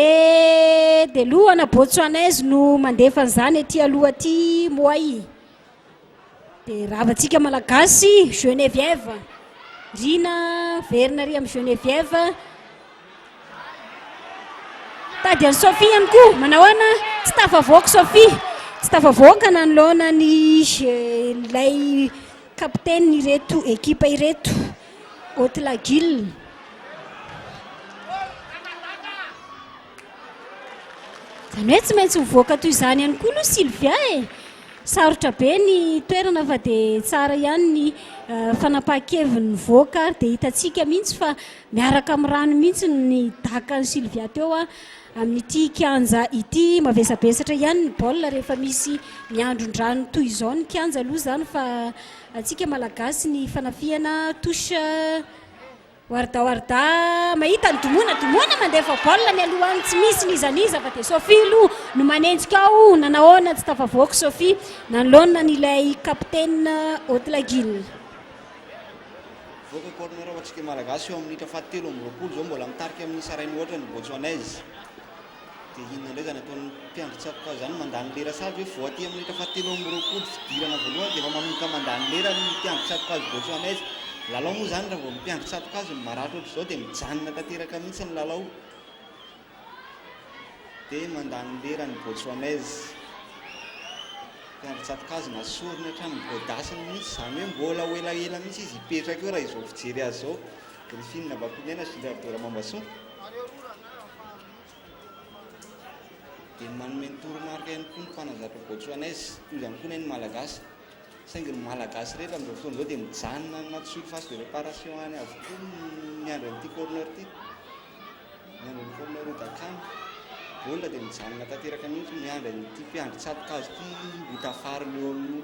dia lohana botswanais no mandefa an'izany aty aloha aty moay. Dia ravantsika Malagasy, Geneviève. Rina, verina ery amin'i Geneviève. Tady an'i Sophie ihany koa, manao ahoana? Tsy tafavoaka Sophie. Tsy tafavoaka nanoloana ny ilay kapiteny ireto ekipa ireto, Haute Laguille. Izany hoe tsy maintsy mivoaka toy izany ihany koa aloha Sylvia e. Sarotra be ny toerana fa dia tsara ihany ny eh, fanapahan-keviny nivoaka ary dia hitantsika mihitsy fa miaraka amin'ny rano mihitsy ny dakan'i Sylvia teo ah, amin'ity kianja ity. Mavesabesatra ihany ny baolina rehefa misy miandron-drano toy izao ny kianja aloha izany fa antsika malagasy ny fanafihana touche Warda Warda mahita ny Domoina Domoina mandefa baolina mialoha any tsy misy n'iza n'iza fa dia Sophie aloha no manenjika ao nanahoana tsy tafavoaka Sophie nanoloana an'ilay kapitena Otlagil. Mivoaka corner ho antsika Malagasy eo amin'ny minitra fahatelo amby roapolo izao mbola mitarika amin'ny isa iray mihoatra ny Botswanais. Dia inona indray izany ataon'ny mpiandry tsakoka izany, mandany lera sahaza hoe vao aty amin'ny minitra fahatelo amby roapolo fidirana voalohany dia efa manomboka mandany lera ny mpiandry tsato-kazo Botswanais. Lalao moa izany raha vao ny mpiandry tsato-kazo no maratra ohatr'izao dia mijanona tanteraka mihitsy ny lalao. Dia mandany lera ny Botswanais. Mpiandry tsato-kazo nasoriny hatramin'ny godasiny mihitsy, izany hoe mbola ho elaela mihitsy izy hipetraka eo raha izao fijery azy izao. Griffin Bakoiniaina sy Gérard Doramambasoa. Dia manome ny toromarika ihany koa ny mpanazatra Botswanais, toy izany koa anie ny Malagasy. Saingy ny Malagasy rehetra amin'izao fotoana izao dia mijanona anaty surface de réparation any avokoa miandry an'ity corner ity. Miandry an'i corner Odacan. Baolina dia mijanona tanteraka mihitsy miandry an'ity mpiandry tsato-kazo ity ho tafarina eo amin'ny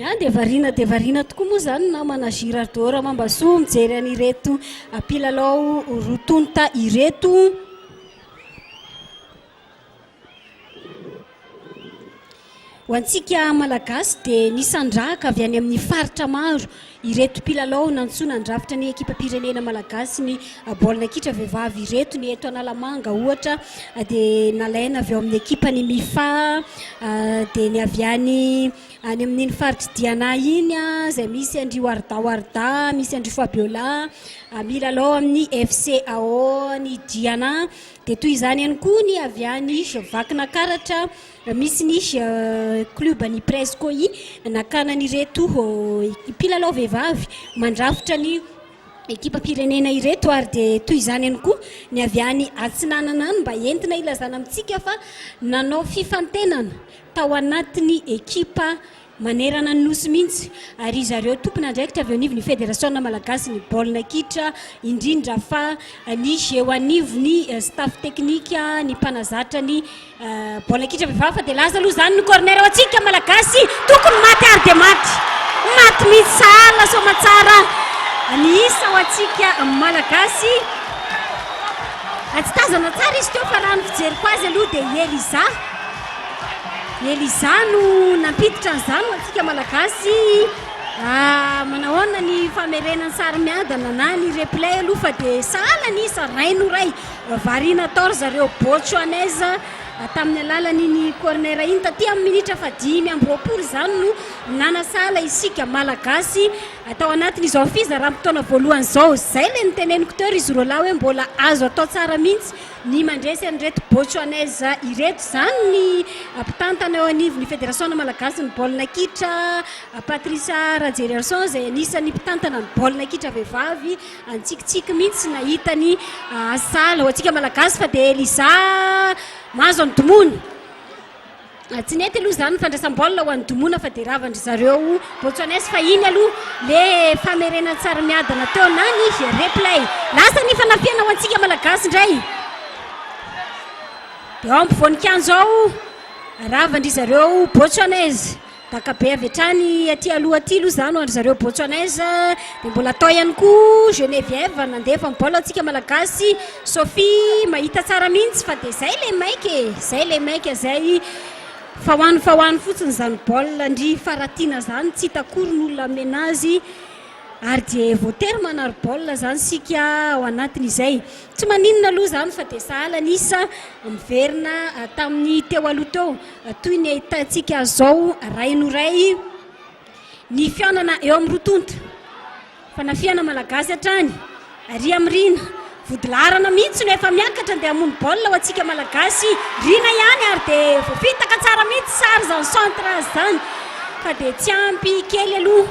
Ah, dia variana dia variana tokoa moa izany namana Girardeau Ramambasoa mijery an'ireto mpilalao roa tonta ireto. Ho antsika Malagasy dia nisandrahaka avy any amin'ny faritra maro Ireto mpilalao nantsoina handrafitra ny ekipam-pirenena malagasy ny baolina kitra vehivavy ireto, ny eto Analamanga ohatra dia nalaina avy ao amin'ny ekipan'ny Mifa dia ny avy any any amin'iny faritr'i Diana iny izay misy an-dry Warda Warda, misy an-dry Fabiola milalao amin'ny FC Aon' i Diana. Dia toy izany ihany koa ny avy any Vakinakaratra Misy ny klioban'ny Prez Koi nakana an'ireto mpilalao vehivavy mandrafitra ny ekipam-pirenena ireto ary dia toy izany ihany koa ny avy any Atsinanana any mba entina ilazana amintsika fa nanao fifantenana tao anatin'ny ekipa manerana ny Nosy mihitsy ary ry zareo tompon'andraikitra avy eo anivon'ny Federasiona malagasin'ny baolina kitra indrindra fa ny eo anivon'ny staff teknika, ny mpanazatra ny baolina kitra vehivavy fa dia lasa aloha izany ny corner ho antsika malagasy tokony maty ary dia maty maty mihitsy sahala soamatsara ny isa ho antsika malagasy tsy tazana tsara izy teo fa raha ny fijeriko azy aloha dia Eliza Eliza no nampiditra an'izany ho antsika Malagasy. Ah, manao ahoana ny famerena ny sary miadana na ny replay aloha fa dia sahala ny iza ray no ray. Variana tao ry zareo Botswanais tamin'ny alalan'iny corner iny taty amin'ny minitra fahadimy amby roapolo izany no nanasahala isika Malagasy tao anatin'izao fizaram-potoana voalohany izao. Izay ilay noteneniko teo ry Zorolahy hoe mbola azo atao tsara mihitsy Ny mandresy an'ireto Botsuanese ireto izany ny mpitantana eo anivon'ny Federasiona malagasin'ny baolina kitra, Patricia Rajeriarison, izay anisan'ny mpitantana ny baolina kitra vehivavy. Nitsikitsiky mihitsy nahita ny asala ho antsika Malagasy fa dia Eliza mahazo an'i Domono. Tsy nety aloha izany ny fandraisam-baolina ho an'i Domona fa dia ravan-dry zareo Botswanais fahiny aloha ilay famerenan-tsary miadana teo na ny replay. Lasa ny fanafihana ho antsika Malagasy indray. Dia ao ampovoan-kianja ao, ravan-dry zareo Botswanais. Baka be avy hatrany aty aloha aty aloha izany ho an-dry zareo Botswanais. Dia mbola tao ihany koa Geneviève nandefa ny baolina ho antsika Malagasy. Sophie mahita tsara mihitsy fa dia izay ilay maika e, izay ilay maika izay. Fa ho any fa ho any fotsiny izany baolina an-dry Faratiana izany, tsy hita akory ny olona hamena azy. Ary dia voatery manary baolina izany isika ao anatin'izay. Tsy maninona aloha izany fa dia sahala an'isa miverina tamin'ny teo aloha teo. Toy ny ahitantsika azy izao ray no ray ny fihaonana eo amin'ny roa tonta. Fanafihana malagasy hatrany, ary amin'ny Rina. Vodilaharana mihitsy no efa miakatra handeha hamono baolina ho antsika malagasy. Rina ihany ary dia voafitaka tsara mihitsy sary izany centre azy izany fa dia tsy ampy kely aloha.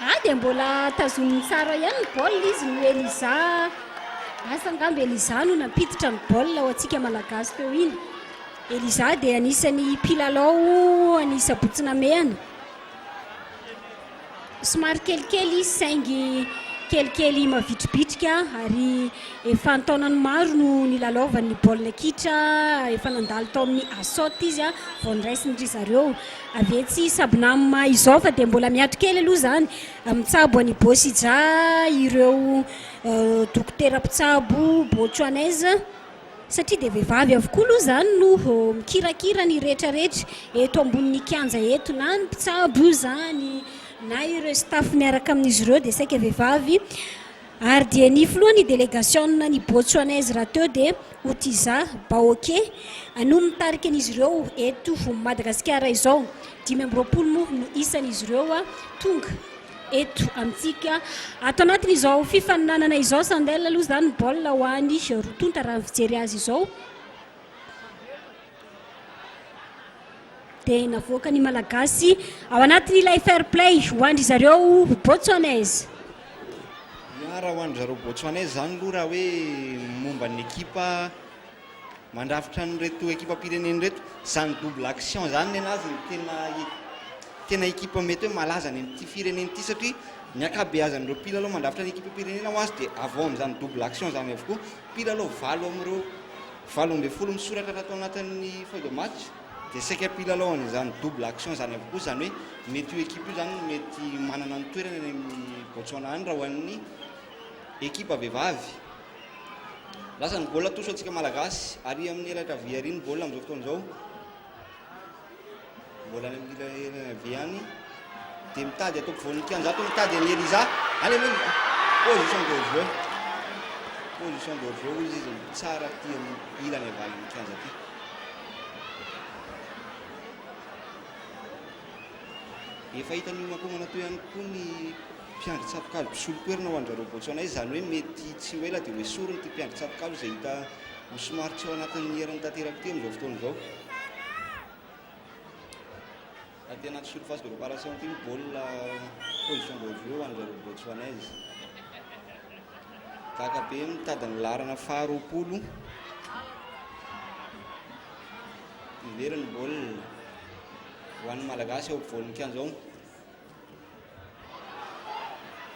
Ah dia mbola tazominy tsara ihany ny baolina izy no Eliza Asa angamba Eliza no nampiditra ny baolina ho antsika Malagasy teo iny Eliza dia anisan'ny mpilalao an'i Sabotsy Namehana Somary kelikely izy saingy kelikely mavitribitrika ary efa an-taonany maro no nilalaovany ny baolina kitra Efa nandalo tao amin'ny Asot izy vao noraisiny ry zareo Avy etsy sabonama izao fa dia mbola miato kely aloha izany, mitsabo an'i Bôsija ireo dokotera mpitsabo Botswanais satria dia vehivavy avokoa aloha izany no mikirakira ny rehetrarehetra eto ambonin'ny kianja eto, na ny mpitsabo io izany na ireo staff miaraka amin'izy ireo dia saika vehivavy. Ary dia ny filohan' ny delegasionina any Botsoanaizy rahateo dia Otiza Baoke no mitarika an' izy ireo eto Madagasikara izao. Dimy amby roapolo moa no isan' izy ireo tonga eto amintsika. Ato anatin' izao fifaninanana izao Sandel aloha izany baolina ho any roa tonta raha ny fijery azy izao. dia navoaka ny Malagasy ao anatin'ilay fair play ho andry zareo Botswanais. Miara ho andry zareo Botswanais izany aloha raha hoe momba ny ekipa mandrafitra an'ireto ekipam-pirenena ireto. Izany double action izany ny anazy no tena tena ekipa mety hoe malaza any amin'ity firenena ity satria ny ankabeazan'ireo mpilalao mandrafitra ny ekipam-pirenena ho azy dia avy ao amin'izany double action izany avokoa. Mpilalao valo amin'ireo Valo ambin'ny folo misoratra raha tao anatin'ny feuille de match dia saika mpilalao an'izany double action izany avokoa, izany hoe mety io ekipa io izany no mety manana ny toerany any amin'ny Botswana any raha ho an'ny ekipa vehivavy. Lasa ny baolina atosy ho antsika Malagasy ary amin'ny elatra havia àry ny baolina amin'izao fotoana izao. Mbola any amin'ilay RNV any dia mitady atao ampovoan'ny kianja ato mitady an'i Eliza. Any aloha position de jeu. Position de jeu hoy izy tsara aty amin'ny ilany avalan'ny kianja aty. Efa hitan'ny homakomana toy ihany koa ny mpiandry tsatokazo mpisolo toerana ho an-dry Botswana izany hoe mety tsy ho ela dia ho esoriny ity mpiandry tsatokazo izay hita ho somary tsy ao anatin'ny heriny tanteraka ity amin'izao fotoana izao. Raha tena tsy surface de reparation ity ny baolina position voivoy eo ho an'izareo Botswanais. Gaka be mitady ny laharana faharoapolo. Miverina ny baolina ho an'ny Malagasy eo ampovoan'ny kianja ao.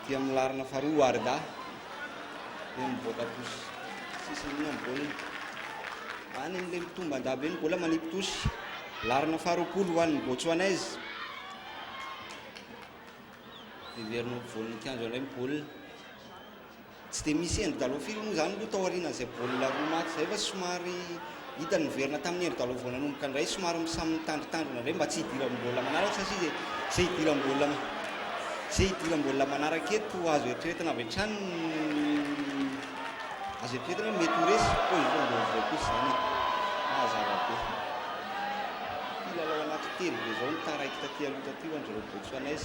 dia amin'ny laharana faharoa Warda dia mivoaka tosy sisiny io amboniny any amin'ilay mitomban-dahy be ny bola manipy tosy laharana faharoapolo ho an'ny Botswanais dia miverina ho voninkazo indray ny baolina Tsy dia misy endry dalao firy moa izany aloha tao aorianan'izay baolina roa maty izay fa somary hita niverina tamin'ny endry dalao vao nanomboka indray somary samy mitandritandrina indray mba tsy hidiran'ny baolina manaraka satria izay izay hidiran'ny baolina izay hidiran'ny baolina manaraka eto azo eritreretina avy hatrany ny azo eritreretina hoe mety ho resy koa izao ny vaovao kosa izany e mazava be mpilalao anaty telo be izao no taraiky taty aloha taty ho an-dry ireo Botswanais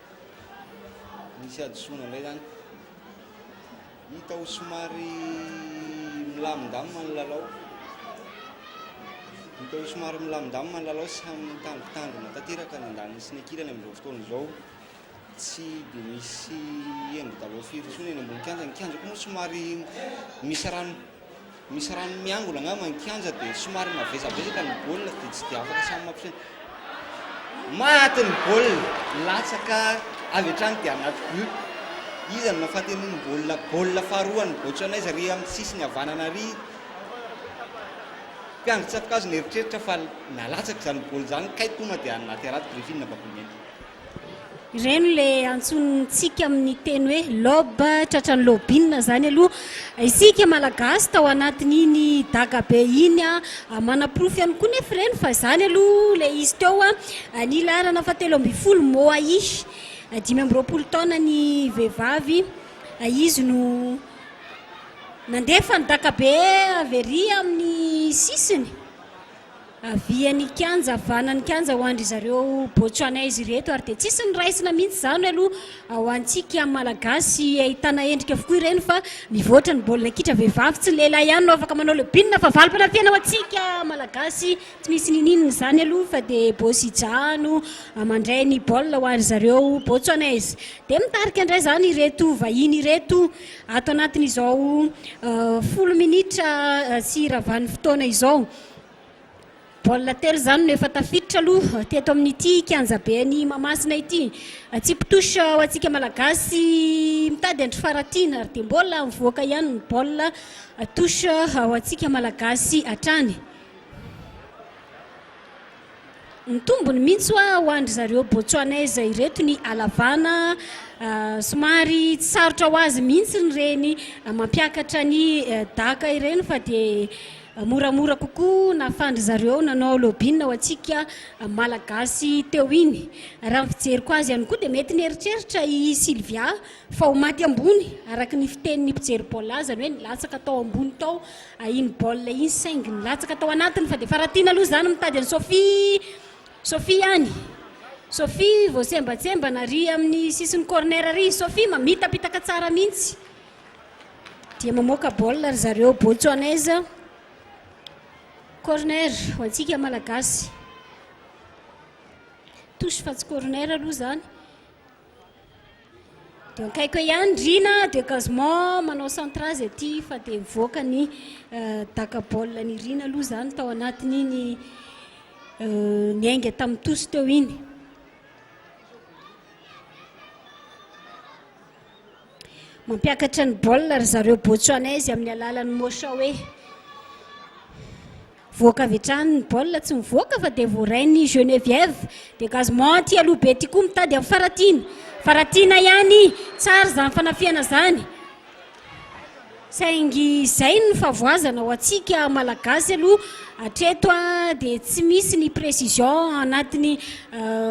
Nisy hadisoana indray izany. Hita ho somary milamindamina ny lalao. Hita ho somary milamindamina ny lalao, samy mitangotangona tanteraka ny andaniny sy ny ankilany amin'izao fotoana izao. Tsy dia misy hendry daholo firy intsony eny ambony kianja. Ny kianja koa moa somary misy rano. Misy rano miangona angamba ny kianja dia somary mavesavesaky ny baolina dia tsy dia afaka samy mampiseho. Maty ny baolina, latsaka avy hatrany dia anaty but. Iza no mahafaty an'iny baolina, baolina faharoa an'i Botswanais ary amin'ny sisiny havanana ary mpiandry tsato-kazo nieritreritra fa nalatsaka izany baolina izany kay tonga dia naty anaty griffin'ny Babomena. Ireny le antsointsika amin'ny teny hoe lobe, tratran'ny lobina izany aloha. Isika Malagasy tao anatin'iny dagabe iny manaporofo ihany koa nefa ireny fa izany aloha ilay izy teo. Ny laharana fahatelo ambin'ny folo Moahi, dimy amby roapolo taona ny vehivavy, izy no nandefa ny dakabe avy ery amin'ny sisiny. Avia ny kianja, vana ny kianja ho an-dry zareo Botswanais ireto ary dia tsisy ny raisina mihitsy izany aloha ho antsika Malagasy. Ahitana endrika avokoa ireny fa mivoatra ny baolina kitra, vehivavy tsy lehilahy ihany no afaka manao le bin fa valim-panafihana ho antsika Malagasy. Tsy misy niniana izany aloha fa dia Bosija no mandray ny baolina ho an-dry zareo Botswanais. Dia mitarika indray izany ireto vahiny ireto Ato anatin'izao folo minitra sy ravan'ny fotoana izao, baolina telo izany no efa tafiditra aloha teto amin'ity kianjaben'i Mahamasina ity. Tsipy touche ho antsika Malagasy mitady andry faratiana ary dia mbola mivoaka ihany ny baolina touche ho antsika Malagasy hatrany. Mitombony mintsy oa ho an-dry zareo Botswanese ireto ny halavana, somary tsy sarotra ho azy mintsiny ireny mampiakatra ny daka ireny fa dia moramora kokoa nahafan-dry zareo nanao lobbying ho antsika Malagasy teo iny. Raha ny fijeriko azy ihany koa dia mety nieritreritra i Sylvia fa ho maty ambony araka ny fitenin'ny mpijery baolina azy, izany hoe nilatsaka tao ambony tao a iny baolina iny saingy nilatsaka tao anatiny fa dia faratiana aloha izany mitady an'i Sophie Sophie any Sophie voasembatsembana ary amin'ny sisin'ny corner ary i Sophie mamitapitaka tsara mihitsy dia mamoaka baolina ry zareo Botswanais corner ho antsika malagasy touche fa tsy corner aloha izany Dia akaiky eo ihany Drina dia quasiment manao centra zay aty fa dia mivoaka ny euh, daka baolina ny Rina aloha izany tao anatin'iny euh, niainga tamin'ny tosy teo iny. Mampiakatra ny baolina ry zareo Botsuanaizy amin'ny alalan'ny Moshawe. Voaka avy hatrany ny baolina, tsy mivoaka fa dia voarain'ny Geneviève. Dégagement aty aloha be aty koa mitady amin'ny Faratiana. Faratiana ihany, tsara izany fanafihana izany. Saingy izay no favoazana ho antsika Malagasy aloha hatreto dia tsy misy ny précision anatiny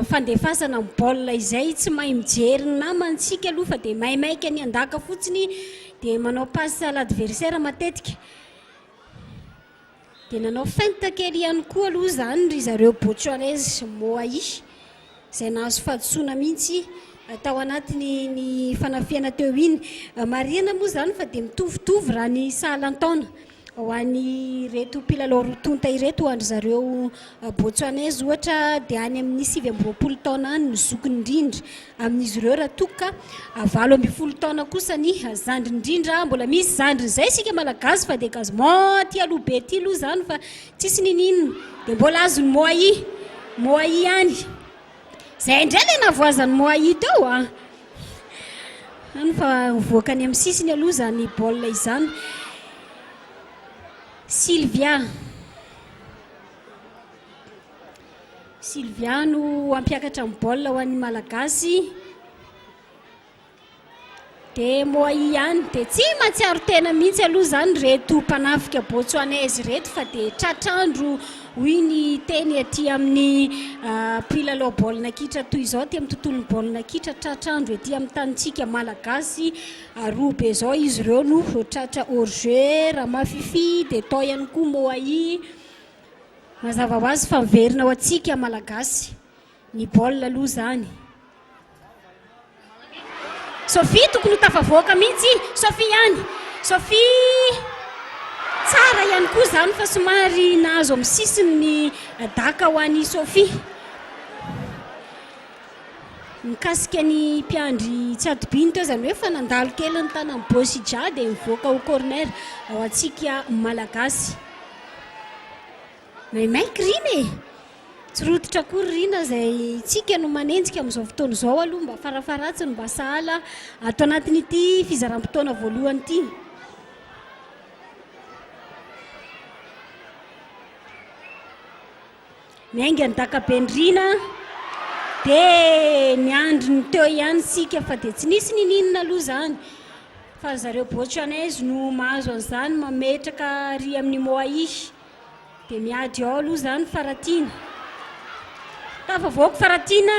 fandefasana amin'ny baolina izay tsy mahay mijery ny namantsika aloha fa dia maimaika ny andaka fotsiny dia manao passe à l'adversaire matetika. Dia nanao feinte kely ihany koa aloha izany ry zareo Botswanais Moai, izay nahazo fahadisoana mihitsy tao anatin'iny fanafihana teo iny. Marihana moa izany fa dia mitovitovy raha ny sahalan-taona ho an'ireto mpilalao roa tonta ireto, ho an-dry zareo Botswanais ohatra dia any amin'ny sivy amby roapolo taona any ny zokiny indrindra. Amin'izy ireo raha toa ka valo ambin'ny folo taona kosa ny zandriny indrindra, mbola misy zandriny zay isika malagasy fa dia gazement aty aloha be aty aloha izany fa tsisy niniana dia mbola azon'ny moai moai ihany zay indray ilay navoazan'ny moai teo a any fa mivoaka any amin'ny sisiny aloha izany baolina izany Sylvia Sylvia no hampiakatra ny baolina ho an'ny Malagasy. Dia Moay ihany. Dia tsy matsiaro tena mihitsy aloha izany reto mpanafika Botswanais ireto fa dia tratrandro hoy ny teny aty amin'ny ah, mpilalao baolina kitra toy izao aty amin'ny tontolon'ny baolina kitra tratrandro ety amin'ny tanintsika Malagasy aroa be izao izy ireo no tratra hors jeu Ramafifi dia tao ihany koa Moay Mazava ho azy fa miverina ho antsika Malagasy ny baolina aloha izany. Sophie tokony ho tafavoaka mihitsy, Sophie ihany, Sophie tsara ihany koa izany fa somary nahazo amin'ny sisiny ny daka ho an'i Sophie. Mikasika ny mpiandry tsy adobiny teo izany hoe fa nandalo kely ny tanan'i Bosija dia mivoaka ho corner ho antsika Malagasy. Maimaika Rina e! Tsy rototra akory Rina izay tsika no manenjika amin'izao fotoana izao aloha mba farafaharatsiny mba sahala ato anatin'ity fizaram-potoana voalohany ity. Ny ainga ny dakabendrina dia niandry ny teo ihany isika fa dia tsy nisy nininona aloha izany fa ry zareo Botswanais no mahazo an'izany mametraka ary amin'ny Moai dia miady ao aloha izany Faratiana. Tafavoaka Faratiana!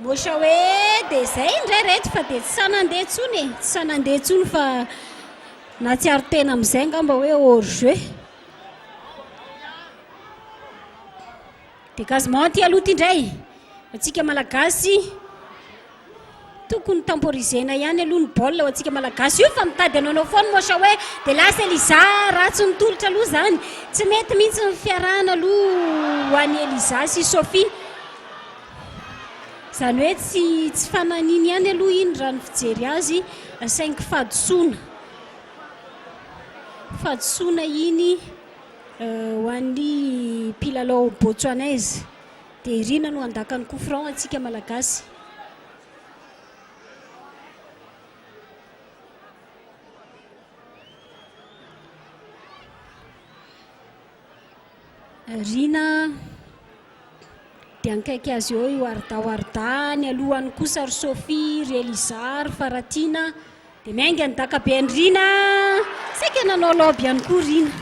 Mocha hoe dia izay indray reto fa dia tsy sahy nandeha intsony e, tsy sahy nandeha intsony fa nahatsiaro tena amin'izay angamba hoe hors jeu. Dégagement aty aloha ity indray, antsika malagasy tokony temporisena ihany aloha ny baolina ho antsika malagasy io fa mitady hanaonao foana i Mocha hoe dia lasa Eliza ratsy ny tolotra aloha izany, tsy mety mihitsy ny fiarahana aloha ho an'i Eliza sy Sophie. Izany hoe tsy tsy fananiny ihany aloha iny raha ny fijery azy saingy fahadisoana fahadisoana iny ho an'ny mpilalao botswanais dia irina no handaka ny coup franc antsika malagasy. Rina dia nikaiky azy eo io Arda ho Arda, ny alohany kosa ry Sophie, ry Eliza, ry Faratina dia miainga ny dakabe an'i Rina, saika nanao lobe ihany koa Rina,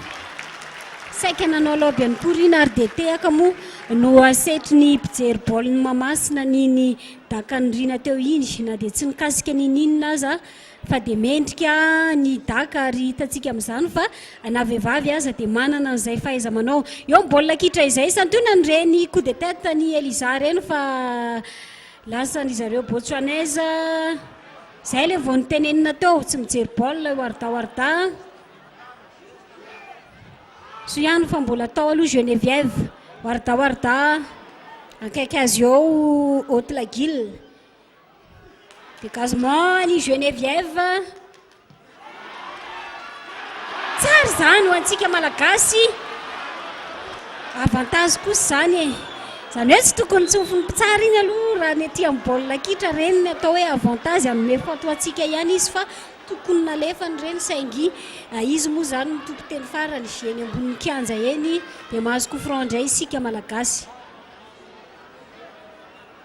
saika nanao lobe ihany koa Rina ary dia tehaka moa no asetry ny mpijery baolin'i Mahamasina ny ny dakan'i Rina teo iny na dia tsy nikasika n'inon'inona aza. fa dia mendrika ny daka ary hitantsika amin'izany fa na vehivavy aza dia manana an'izay fahaiza-manao eo amin'ny baolina kitra izay. Santionany ireny coup de tête an'i Elisa ireny fa lasan'i zareo Botswanese. Izay ilay vao nitenenina teo, tsy mijery baolina io Arda Warda. Soa ihany fa mbola tao aloha Geneviève, Warda Warda, akaiky azy eo Haute Laguille. Dégagement an'i Geneviève. Tsara izany ho antsika malagasy. Avantage kosa izany e. Izany hoe tsy tokony tsofin'ny mpitsara iny aloha raha ny aty amin'ny baolina kitra ireny ny atao hoe avantage hanome faute ho antsika ihany izy fa tokony nalefany ireny saingy eh, izy moa izany no tompon-teny farany eny ambonin'ny kianja eny dia mahazo coup franc indray isika malagasy.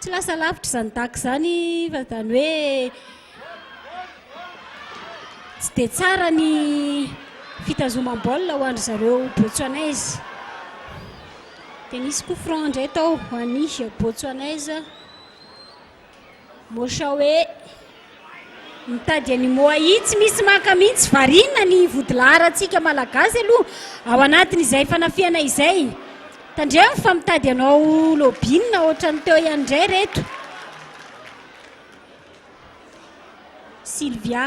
Tsy lasa lavitra izany dac izany fa izany hoe tsy dia tsara ny fitazomam-baolina ho an-dry zareo Botswanaise. Dia nisy coup franc indray tao ho an'ny Botswanaise. Moshawe. Mitady any moa i tsy misy maka mihintsy variana ny vodilaharantsika malagasy aloha ao anatin'izay fanafihana izay tandremo fa mitady anao lobbyinina ohatran'ny teo ihany indray reto Sylvia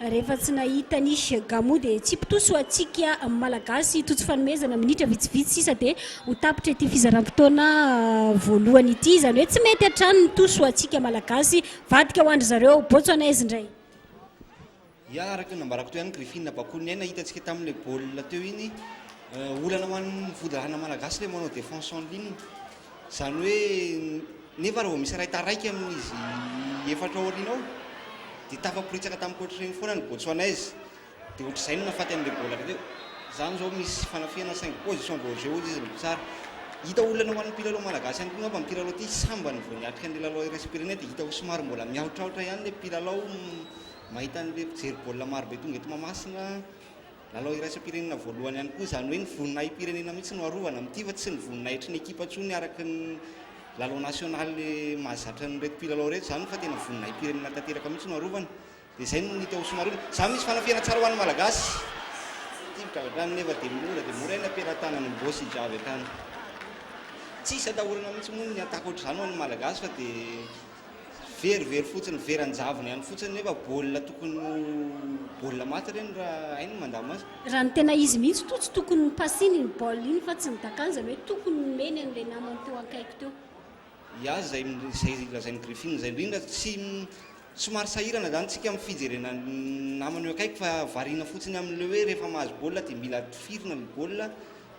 Rehefa tsy nahita ny Gamu dia Tsipitoa soa antsika Malagasy tojo fanomezana minitra vitsivitsy sisa dia ho tapitra ity fizaram-potoana voalohany ity izany hoe tsy mety hatrany ny toa soa antsika Malagasy vadika ho andry zareo Botswanais indray. Ya araka ny nambarako teo ihany Griffin Bakoniaina hitantsika tamin'ilay baolina teo iny olana ho an'ny vodirahana Malagasy ilay manao défense en ligne Izany hoe nefa raha vao misy iray taraiky amin'izy efatra ao aoriana ao dia tafaporitsaka tamin'ny coach ireny foana ny Botswanais dia ohatr'izay no nahafaty an'ilay baolina avy teo. Izany izao misy fanafihana saingy position vao jeu ozy izy no mpitsara. Hita olana ho an'ny mpilalao malagasy ihany koa angamba amin'ity lalao ity, sambany vao niatrika an'ilay lalao iraisam-pirenena dia hita ho somary mbola mihaotraotra ihany ilay mpilalao mahita an'ilay mpijery baolina marobe tonga eto Mahamasina. Lalao iraisam-pirenena voalohany ihany koa, izany hoe ny voninahi-pirenena mihitsy no arovana amin'ity fa tsy ny voninahitry ny ekipa intsony araka ny lalao nasionaly mahazatra an'ireto mpilalao ireto izany fa tena voninahi-pirenena tanteraka mihitsy no arovana. Dia izay no hita ho somarina. Izany misy fanafihana tsara ho an'ny Malagasy. Ity midradradrano nefa dia mora dia mora ilay pelatanana mivoa sy hijavy hatrany. Tsisy atahorana mihitsy moa ny attaque ohatr'izany ho an'ny Malagasy fa dia Very very fotsiny, very an-javony any fotsiny nefa baolina tokony ho baolina maty ireny raha hay ny mandamina azy. Raha ny tena izy mihitsy toa tsy tokony nopasiny iny baolina iny fa tsy ny dakany izany hoe tokony nomeny an'ilay namany teo ankaiky teo. Iazy izay izay lazain'i Griffin izay indrindra, tsy somary sahirana izany tsika amin'ny fijerena ny namany eo akaiky fa variana fotsiny amin'ilay hoe rehefa mahazo baolina dia mila tifirina ilay baolina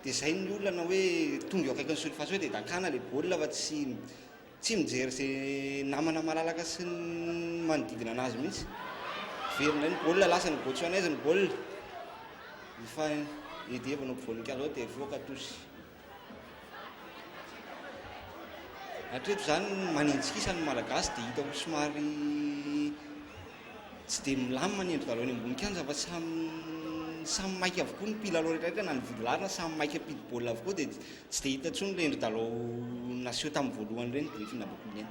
dia izay ny olana hoe tonga eo akaikin'ny surface hoe dia dakana ilay baolina fa tsy Tsy mijery ze namana malalaka sy ny manodidina anazy mihitsy. Very indray ny goal, lasa ny Botswanais ny goal. Efa Eddy vao nampivory ny Kazao dia hivoaka tous. Hatreto izany maninjikisa ny Malagasy dia hita ho somary Tsy dia milamina ny endri-dalao eny ambony kianja fa samy samy maika avokoa ny mpilalao rehetrarehetra na ny vodilarina samy maika mpidi baolina avokoa dia tsy dia hita intsony ilay endri-dalao naseho tamin'ny voalohany ireny Griffin Abokomena.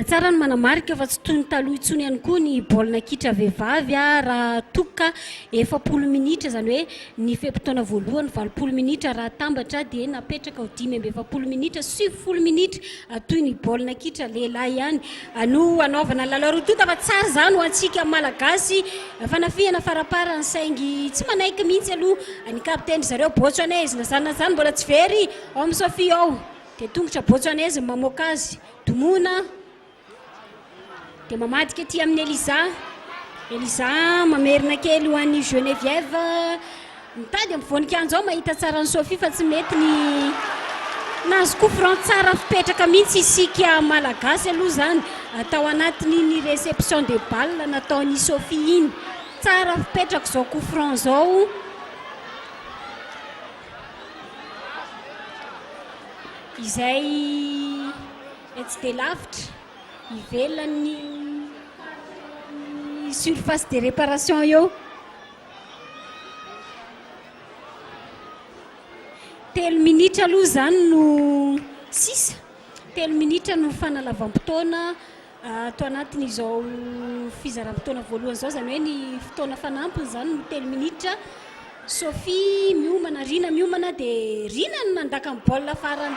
Tsara ny manamarika fa tsy toy ny taloha intsony ihany koa ny baolina kitra vehivavy raha toa ka efapolo minitra izany hoe ny fe-potoana voalohany valopolo minitra raha atambatra dia napetraka ho dimy amby efapolo minitra sy sivifolo minitra toy ny baolina kitra lehilahy ihany Anio hanaovana ny lalao roa tonta fa tsara izany ho antsika Malagasy. Fanafihana faraparany saingy tsy manaiky mihitsy aloha ny kapitenin-dry zareo Botswanais. Na izany na izany mbola tsy very ao amin'i Sophie ao dia tongotra Botswanais no mamoaka azy. Domoina dia mamadika aty amin'i Elisa. Elisa mamerina kely ho an'i Geneviève. Mitady amin'ny voninkanjo aho mahita tsara an'i Sophie fa tsy mety ny nahazo coup franc tsara fipetraka mihitsy isika malagasy aloha izany tao anatin'iny réception de balle nataon'i Sophie iny. Tsara fipetraka izao coup franc izao. Izay etsy dia lavitra ivelan'ny surface de réparation eo. Telo minitra aloha izany no sisa, telo minitra no fanalavam-potoana ato anatin'izao fizaram-potoana voalohany izao, izany hoe ny fotoana fanampiny izany no telo minitra. Sophie miomana, Rina miomana dia Rina no mandaka ny baolina farany.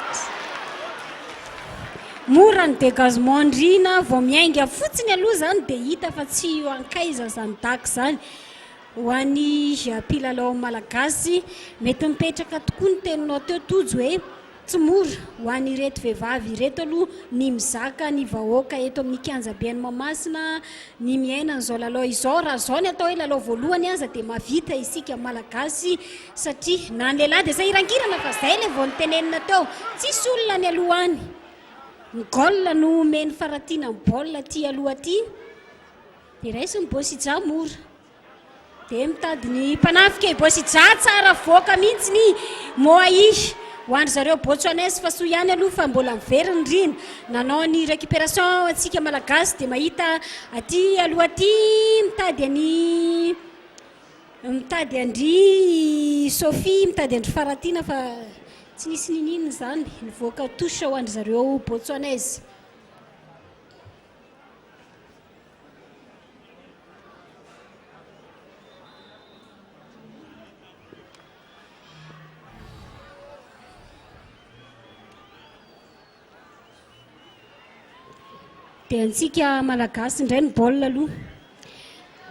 Mora ny dégagement an'i Rina, vao miainga fotsiny aloha izany dia hita fa tsy io ankaiza izany dago izany. Ho an'ny mpilalao malagasy, mety mipetraka tokoa ny teninao teo Tojo hoe tsy mora ho an'ireto vehivavy ireto aloha ny mizaka ny vahoaka eto amin'ny kianjabe any Mahamasina ny miaina an'izao lalao izao. Raha izao ny atao hoe lalao voalohany aza dia mahavita isika malagasy satria na ny lehilahy dia sahirankirana fa izay ilay vao notenenina teo, tsisy olona nialoha any. Ny goal no omeny faratiana amin'ny baolina aty aloha aty. Dia raiso ny boss Ija mora. Dia mitady ny mpanafika i boss Ija tsara avoaka mihitsy ny Moai ho an-dry zareo Botsuanais fa soa ihany aloha fa mbola very ny rihina. Nanao ny recuperation antsika Malagasy dia mahita aty aloha aty mitady an'i mitady an-dry Sophie mitady an-dry Faratiana fa tsy nisy niniana izany. Nivoaka touche ho an-dry zareo Botsuanais. Dia antsika malagasy indray ny baolina aloha.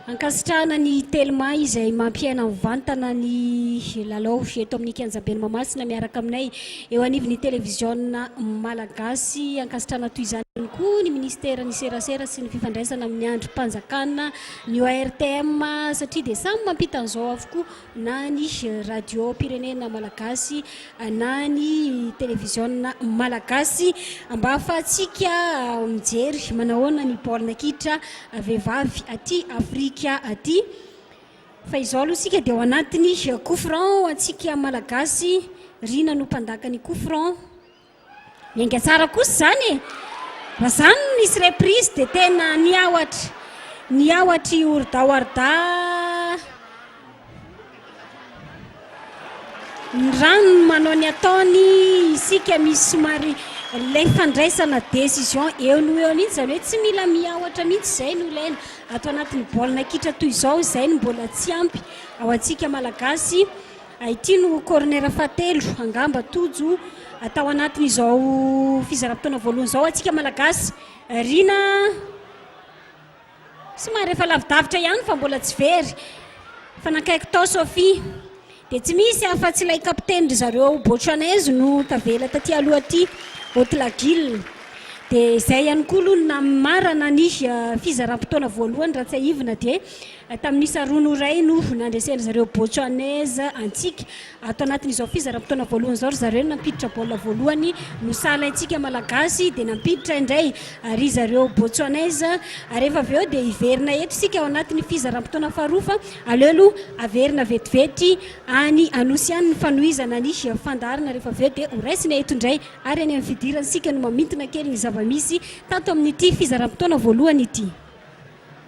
Ankasitrahana ny Telma izay mampiaina mivantana ny lalao eto amin'ny kianjaben'i Mahamasina miaraka aminay eo anivon'ny televiziona malagasy. Ankasitrahana toy izany ihany koa ny Ministeran'ny serasera sy ny fifandraisana amin'ny andrim-panjakana, ny ORTM satria dia samy mampita an'izao avokoa. na ny radiom-pirenena malagasy, na ny televiziona malagasy, mba ahafahantsika mijery manahoana ny baolina kitra vehivavy aty Afrika aty. Fa izao aloha isika dia ao anatin'ny coup franc ho antsika malagasy, Rina no mpandaka ny coup franc. Enga tsara kosa izany e! Raha izany no nisy reprise dia tena niahotra, niahotra i Orda Warda ny rano manao ny ataony isika misy somary ilay fandraisana décision eo no eo mihitsy izany hoe tsy mila miahotra mihitsy izay no ilaina ato anatin'ny baolina kitra toy izao izay no mbola tsy ampy ao antsika malagasy A Ity no corner fahatelo angamba Tojo atao anatin'izao fizaram-potoana voalohany izao antsika Malagasy. Rina somary efa lavidavitra ihany fa mbola tsy very fa nankaiky tao Sophie. Dia tsy misy afa-tsy ilay kapiteny ry zareo Botswanais no tavela taty aloha aty Otilagil. Dia izay ihany koa aloha ny namarana ny fizaram-potoana voalohany raha tsiahivina dia Tamin'ny isa roa no iray no nandreseny zareo Botswanais antsika. Ato anatin'izao fizaram-potoana voalohany izao ry zareo no nampiditra baolina voalohany no saha alaintsika Malagasy dia nampiditra indray ry zareo Botswanais ary rehefa avy eo dia hiverina eto isika ao anatin'ny fizaram-potoana faharoa fa aleo aloha averina vetivety any Anosy any ny fanohizana ny fandaharana rehefa avy eo dia ho raisina eto indray ary any amin'ny fidirana isika no mamintina kely ny zava-misy tato amin'ity fizaram-potoana voalohany ity.